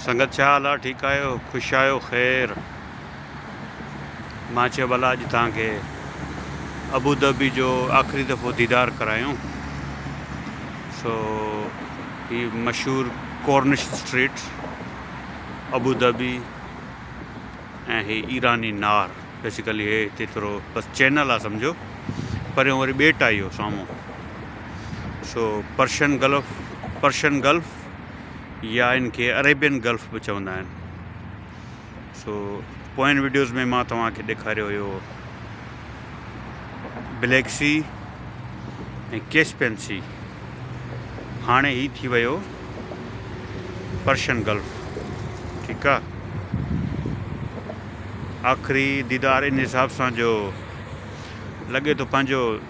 سنگت ڇا حال آ ٺيڪ آهيو خوش آهيو خير مان چيو ڀلا اڄ توهان کي ابوظهبي جو آخري دفعو ديدار ڪرايون سو هي مشهور ڪورنش اسٽريٽ ابوظهبي ۽ هي ايراني نار بيسيڪلي هي هتي ٿورو بس چينل آ سمجهو پريون وري ٻيٽ آ اهو سامهون سو پرشن گلف پرشن گلف يا ان کي عريبين گلف به چوندا آهن سو پوئين ويڊيوز ۾ مان توهان کي ڏيکاريو هيو بليڪ سی ۽ ڪيسپين سی هاڻي هي ٿي ويو پرشن گلف ٺيڪ آ آخري ديدار ان حساب سان جو لڳي ٿو پنهنجو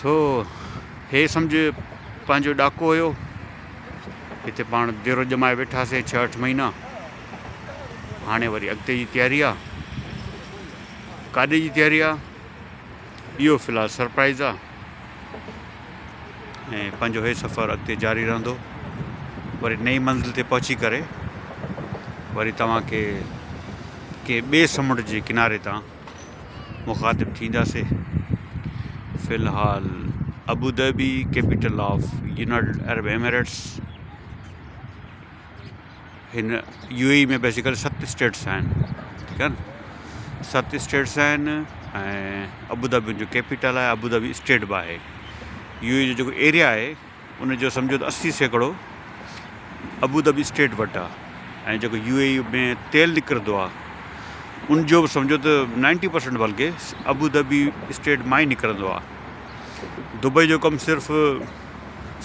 سو هي سمجهه پنهنجو ڏاڪو هيو. هتي پاڻ ديرو ڄمائي ويٺاسين ڇهه اٺ مهينا. هاڻي وري اڳتي جي تياري آ. ڪاڏي جي تياري آ اهو في الحال سرپرائز آ. ۽ پنهنجو هي سفر اڳتي جاري رهندو. وري نئين منزل تي پهچي ڪري وري توهان کي ڪنهن ٻئي سمنڊ جي ڪناري تان مخاطب ٿينداسين. في الحال Abu Dhabi capital of United Arab Emirates هن يو اي ۾ بيسيڪل ست اسٽيٽس آهن ٺيڪ آهن ست اسٽيٽس آهن ۽ ابوظهبي جو ڪيپيٽل آهي ابوظهبي اسٽيٽ به آهي يو اي جو جيڪو ايريا آهي ان جو سمجهو ته اسي سيڪڙو ابوظهبي اسٽيٽ وٽ آ ۽ جيڪو يو اي اي ۾ تيل نڪرندو آ ان جو به سمجهو ته نائنٽي پرسنٽ بلڪه ابوظهبي اسٽيٽ مان ئي نڪرندو آ دبئي جو ڪم صرف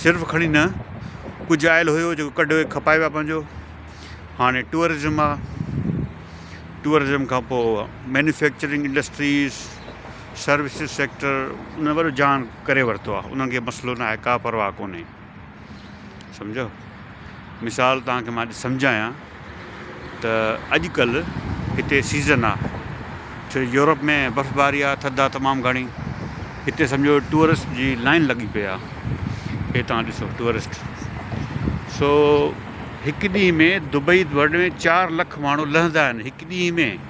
صرف کڻي نه ڪجهه آيل هيو جيڪو ڪڍي کپائي ويا پنهنجو هاڻي ٽوئرزم آ ٽوئرزم کان پوء مينوفيڪچرنگ انڊسٽريز سروسز سيڪٽر ان وڏو جهان ڪري ورتو آهي انهن کي مسئلو ناهي ڪا پرواهه ڪونهي سمجهيو مثال توهان کي مان اڄ سمجهايان ته اڄڪلهه هتي سيزن آهي ڇو يورپ ۾ برفباري آهي ٿڌ آهي تمام گهڻي هتي سمجهو ٽوئرسٽ جي لائن لڳي پئي آهي هي توهان ڏسو ٽوئرسٽ سو هڪ ڏينهن ۾ دبئي ورلڊ ۾ چار لک ماڻهو لهندا آهن هڪ ڏينهن ۾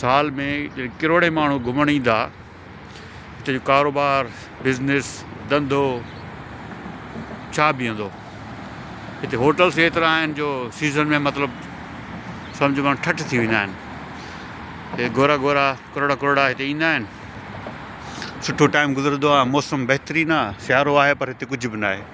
سال ۾ ڪروڙين ماڻهو گهمڻ ايندا هتي جو ڪاروبار بزنس ڌنڌو ڇا بيهندو هتي هوٽلس ايترا آهن جو سيزن ۾ مطلب سمجھ ماڻهو ٺٺ ٿي ويندا آهن هي گورا گورا ڪروڙا ڪروڙا هتي ايندا آهن سٺو ٽائيم گذرندو آهي موسم بهترين آهي سيارو آهي پر هتي ڪجھ به ناهي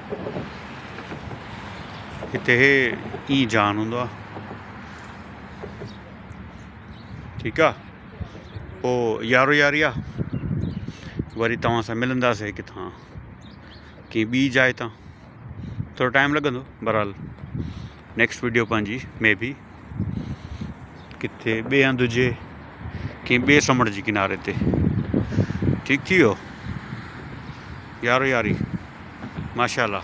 هتي هي اي جان هوندو آ ٺيڪ آ پو يارو ياري آ وري توهان سان ملنداسي ڪٿان ڪي ٻي جاء تان ٿورو ٽائم لڳندو برحال نيڪسٽ ويڊيو پنهنجي مي بي ڪٿي ٻي هنڌ هجي ڪنهن ٻي سمنڊ جي ڪناري تي ٺيڪ ٿي ويو يارو ياري ماشاء الله